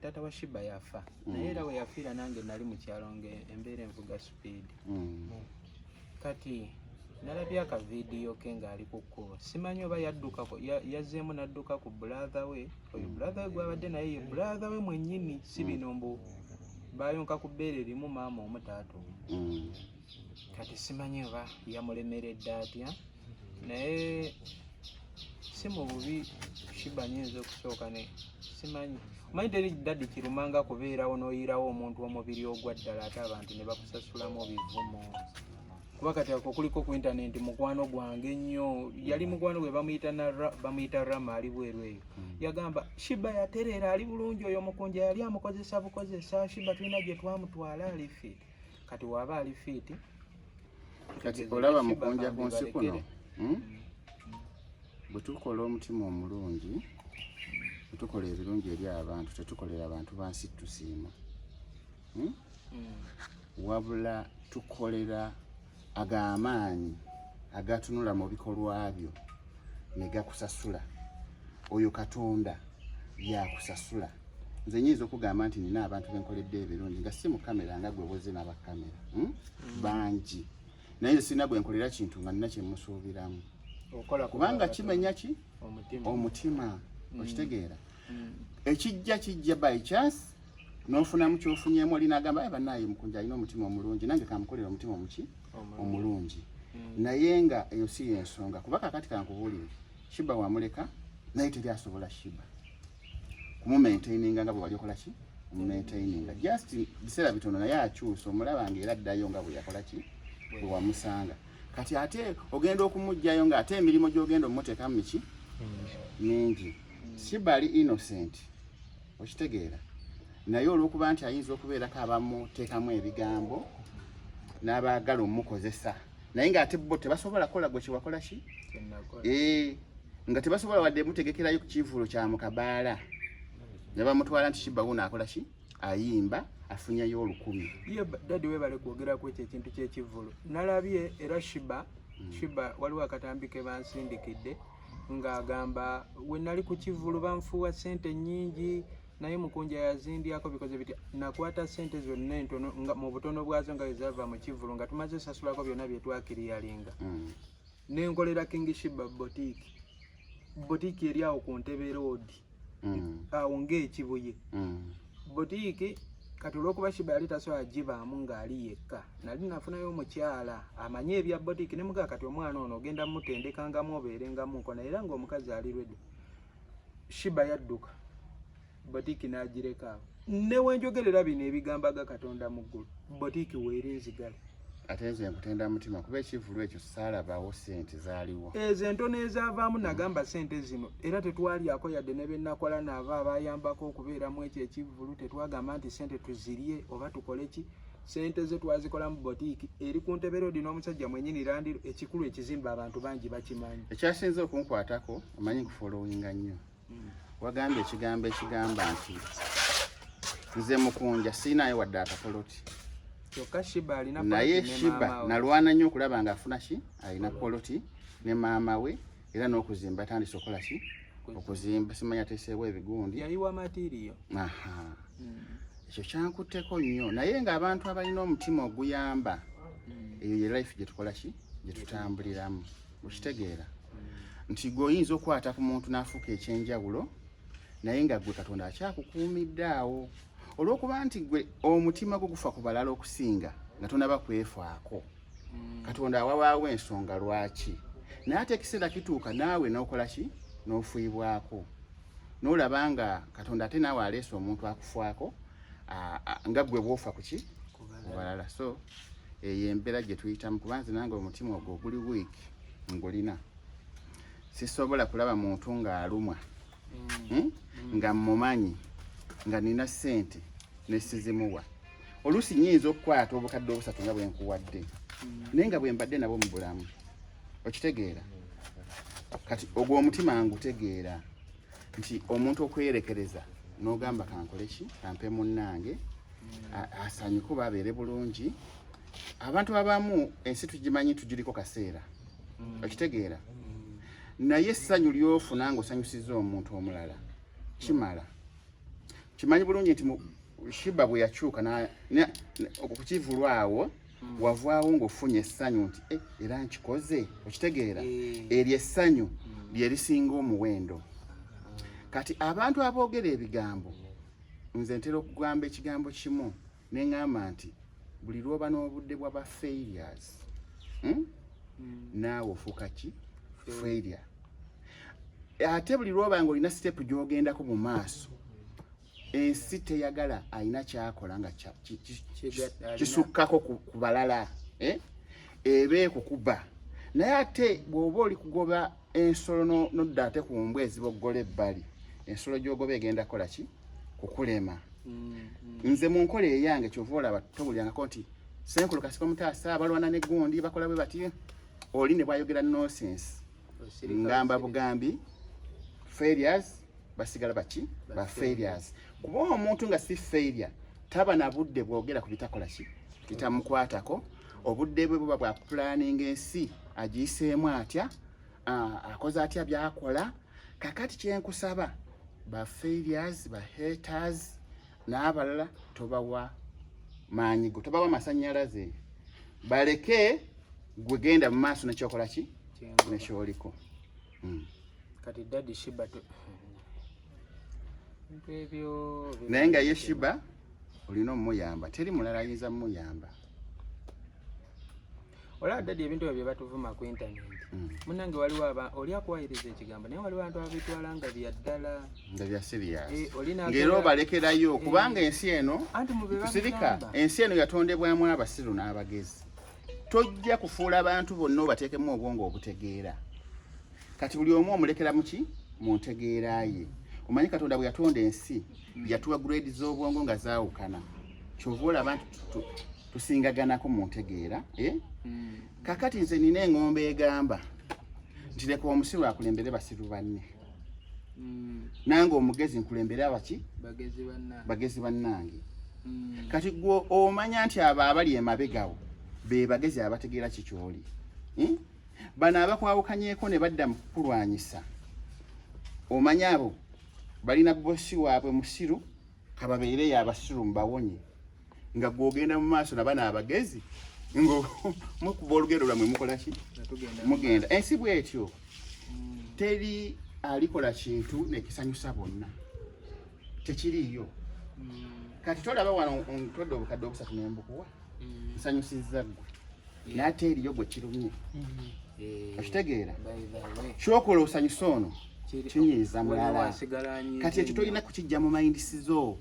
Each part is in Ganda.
taata wa shiba yafa mm. naye era weyafiira nange nali mukyalo nga embeera envuga speed mm. kati nalabye akavidiyo ke ngaali ku kkubo simanyi oba yaddukako yazzeemu nadduka ku bulaatha we oyo mm. bulaatha we gwabadde naye ye bulaatha we mwennyini si bino mbu bayonka ku bbeere limu maama omutaatu kati simanyi oba yamulemeredde atya naye si mu bubi shiba nyinza okusooka ne simanyi omanyi teri dadi kirumanga kubeerawo n'oyiirawo omuntu omubiri ogwa ddala ate abantu ne bakusasulamu bivumo kuba kati ako kuliko ku intanenti mukwano gwange nnyo yali mukwano gwe bamuyita rama ali bweru eyo hmm. yagamba shiba yatereera ali bulungi oyo mukunja yali amukozesa bukozesa shiba tulina gye twamutwala alifi kati waba ali fiiti kati olaba mukunja ku nsi kuno hmm? bwe tukola omutima omulungi bwe tukola ebirungi eri abantu tetukolera abantu bansi tusiima hmm? Hmm. wabula tukolera ago amaanyi agatunula mu bikolwa byo ne gakusasula oyo katonda yakusasula nze nyinza okugamba nti nina abantu benkoledde ebirungi nga si mukamera nga gwe boze nabakamera hmm? mm. bangi naye nze sirina gwenkolera kintu nga nina kyemusuubiramu kubanga kimenya ki omutima mm. okitegeera mm. ekijja kijja by chance n'ofunamu kyofunyemu oli nagamba aye banaye mukunja alina omutima omulungi nange kamukolera omutima omuki omulungi mm. naye nga eyo si yensonga kuba kakati kankubuulire shiba wamuleka naye teri asobola shiba kumumaintaininga nga bwewali okola ki omumaintaininga just biseera bitono naye akyusa omulaba nga era addayo nga bweyakola ki bwewamusanga kati ate ogenda okumugjayo nga ate emirimu gyogenda omutekamu miki mm. mingi shiba ali innocent okitegeera naye olwokuba nti ayinza okubeerako abamuteekamu ebigambo n'abaagala omukozesa naye ng'ate bo tebasobola kola gwe kyewakola ki eh, nga tebasobola wadde mutegekerayo ku kivuulo kya mukabaala ne bamutwala nti kibawuno akola ki ayimba afunyayo olukumi ye dadi webale kwogera ku ekyo ekintu ky'ekivvulu nalabye era shiba hmm. shiba waliwo akatambi ke bansindikidde ng'agamba we nali ku kivvulu banfuuwa ssente nnyingi naye mukunja yazindiyako bikoze biti nakwata sente zonna entono nga mu butono bwazo nga wezava mu kivulu nga tumaze sasulako byonna byetwakiriyalinga mm. nenkolera kingishiba botiki botiki eri awo ku ntebe roodi mm. awo ng'ekibuye mm. butiiki kati olwokuba shiba yali tasobola gibaamu ng'ali yekka nali nafunayo omukyala amanye ebya botiki ne mugaa kati omwana ono ogenda mutendekangamu obeerengamu nkona era ng'omukazi ali redi shiba yadduka botiki n'agireka awo newenjogerera bino ebigambaga katonda mu ggulu botiki weeri nzigale ate nze nkutenda mutima kuba ekivulu ekyo saalabawo sente zaaliwo ezo entono ezaavaamu nagamba sente zino era tetwalyako yadde ne benakola naabo abayambako okubeeramu ekyo ekivulu tetwagamba nti sente tuzirye oba tukole ki sente ze twazikolamu botiiki eri ku ntebe roodi n'omusajja mwenyini landiro ekikulu ekizimba abantu bangi bakimanyi ekyasinze okunkwatako omanyi nkufolowinga nnyo wagambye ekigambo ekigamba nti nze mukunja siinayo wadde akapoloti naye shiba nalwana nnyo okulaba nga afuna ki alina poloti ne maama we era n'okuzimba atandise okukola ki okuzimba simanya ateeseewo ebigundi hmm. ekyo kyankutteko nnyo naye ng'abantu abalina omutima oguyamba hmm. eyo ye life gyetukola ki gyetutambuliramu okitegeera nti gwe oyinza okukwata ku muntu n'afuuka ekyenjawulo naye nga gwe katonda akyakukuumidde awo olw'okuba nti gwe omutima gwo gufa ku balala okusinga nga tonaba kwefaako mm. katonda awawaawo ensonga lwaki naye ate ekiseera kituuka naawe n'okola ki n'ofuibwako n'olaba nga katonda ate naawe aleese omuntu akufaako nga gwe bwofa kuki ku balala so eyo embeera gye tuyitamu kuba nze nange omutima ogwo oguli wiiki ngulina sisobola kulaba muntu ng'alumwa mm. hmm? nga mmumanyi nga nina ssente nesizimuwa oluusi nyinza okukwata obukadde obusatu nga bwe nkuwadde mm. naye nga bwe mbadde nabo mu bulamu okitegeera kati ogwo omutima ngutegeera nti omuntu okweyerekereza n'ogamba kankole ki kampe munnange asanyuke oba abeere bulungi abantu abamu ensi tugimanyi tugiriko kaseera mm. okitegeera naye essanyu lyofuna nga osanyusiza omuntu omulala kimala kimanyi bulungi nti shiba bwe yakyuka okukivulwa awo mm. wavaawo ng'ofunye essanyu nti eh, era nkikoze okitegeera eh. eryo essanyu mm. lye lisinga omuwendo kati abantu aboogera ebigambo nze ntera okugamba ekigambo kimu ne ŋŋamba nti buli lwoba n'obudde bwa ba failures hmm? mm. naawe ofuuka ki failure ate buli lwoba nga olina sitepu gy'ogendako mu maaso ensi teyagala alina kyakola nga kisukkako ku balala eh? eba ekukuba naye ate bw'oba oli kugoba ensolo nodda ate ku mbwa eziboggola ebbali ensolo gy'ogoba egenda kola ki kukulema mm-hmm. nze mu nkola eyange kyova olaba tobulyangako nti senkulu kasiko mutaasa abalwana ne gundi bakola bwe bati oli ne bwayogera nosense ngamba bugambi failures basigala baki ba failures kuba omuntu nga si failure taba na budde bwogera ku bitakola ki bitamukwatako obudde bwe buba bwa planning ensi agiyiseemu atya akoze atya byakola kakati kyenkusaba ba failures ba haters n'abalala tobawa maanyi go tobawa masanyalaze baleke gwegenda mu maaso nekyokola ki nekyoliko Hmm. Kati daddy Shiba to naye nga ye Shiba olina omuyamba teri mulala ayinza muyamba olaba dadi ebintu ebyo byebatuvuma ku intaneti mm. munange waliwo aba oli akuwayiriza ekigambo naye waliwo abantu ababitwala nga byaddala nga bya siriyasngera eh, obalekerayo eh. kubanga ensi eno kusirika ensi eno yatondebwamu abasiru n'abagezi tojja kufuula abantu bonna obateekemu obwongo obutegeera kati buli omu omulekera muki mu ntegeera ye omanyi katonda bwe yatonda ensi yatuwa grade z'obwongo nga zaawukana kyova olaba nti tusingaganako mu ntegeera eh? hmm. kakati nze nina eng'ombe egamba nti leka omusiru akulembere basiru banne mm. nange omugezi nkulembere abaki bagezi bannange mm. kati gwe omanya nti abo abali emabegawo be bagezi abategeera kikyoli hmm? bano abakwawukanyeko ne badda mu kukulwanyisa omanya abo balina bosi waabwe musiru kababeere yabasiru mbawonye nga gwogenda mu maaso naba naabagezi ngo mukuba olugendo lwamwe mukolaki mugenda ensi bwetyo mm. teri alikola kintu nekisanyusa bonna tekiriiyo mm. kati tolaba wano ntodde obukadde obusatu nembukuwa mm. nsanyusizza ggwe naate eriyo gwe kirumye mm-hmm. eh, okitegeera kyokola osanyusa ono kinyiiza mulala kati ekyo tolina kukijja mu mayindisizo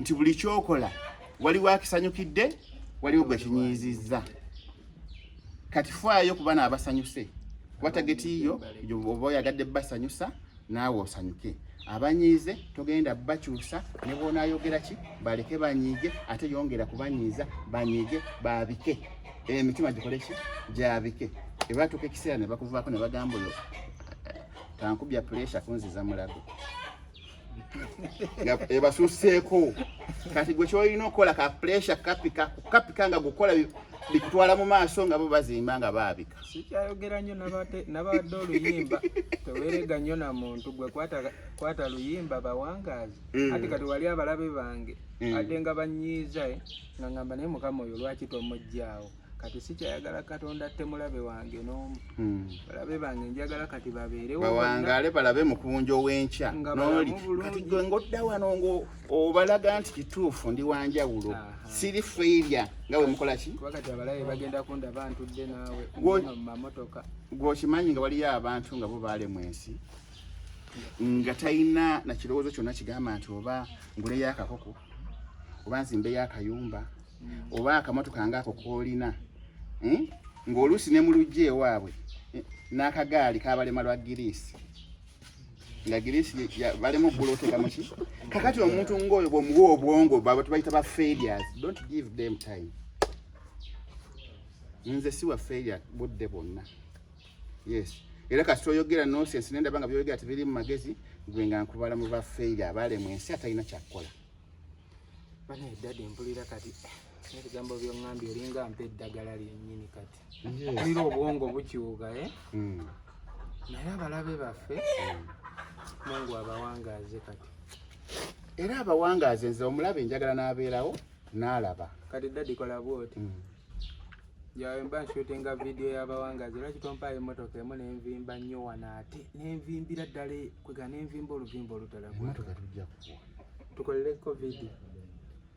nti buli kyokola waliwo akisanyukidde waliwo gwe kinyiizizza kati faayo kuba naabasanyuse watagetiiyo oba oyagadde basanyusa naawe osanyuke abanyiize togenda bakyusa ne bwonaayogera ki baleke banyiige ate yongera kubanyiiza banyiige baabike emitima eh, gikole ki gyabike ebatuuka ekiseera ne bakuvaako ne bagamba oyo tankubya puresha kunziza mulago ebasusseeko kati gwe kyolina okukola ka puresha kapika kapika nga gukola bikutwala mu maaso nga bo bazimba nga baabika sikyayogera nnyo nabadde oluyimba tewerega nnyo na muntu gwe kwata luyimba bawangaazi mm. ati kati wali abalabe bange mm. ate nga banyiiza eh, nga ngamba naye mukama oyo lwaki tomugyawo kati sikyayagala katonda atte mulabe wange n'omu mm. balabe bange njagala kati babeerewo bawangale balabe mukunja ow'enkya noli kati gwe ng'odda wano ngo obalaga nti kituufu ndi wanjawulo siri feirya nga bwe mukola ki gwokimanyi nga waliyo abantu nga bo baalemu ensi nga talina na kirowoozo kyonna kigamba nti oba nguleyo akakoko oba nzimbeyo akayumba hmm. oba akamotoka ngaako koolina hmm? ng'oluusi ne mu lujja ewaabwe eh, n'akagaali kabalema lwa giriisi nga girisi balemu okugula otekamuki kakati omuntu ngaoyo bwomuwa obwongo baba tubayita ba failures don't give them time nze siwa failure budde bwonna yes era kasita oyogera nonsense nendaba nga byoyogera tebiri mu magezi gwe nga nkubala mu ba failure abalemwa ensi atalina kyakukola banaye dadi mpulira kati ebigambo byoŋambye olinga mpa eddagala lyenyini kati mpulira obwongo bukyuka e eh? hmm. naye abalabe baffe hmm. mungu abawangaaze kati era abawangaaze nze omulabe njagala n'abeerawo n'alaba kati dadi kola bwoti hmm. yawe mba nshutinga vidiyo y'abawangaaze lwaki tompaayo emmotoka emu nenvimba nnyo wano ate nenvimbira ddala e, kwega nenvimba oluvimba olutalamotoka tujja kuwa tukolere covid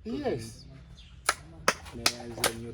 yes neyanze nnyo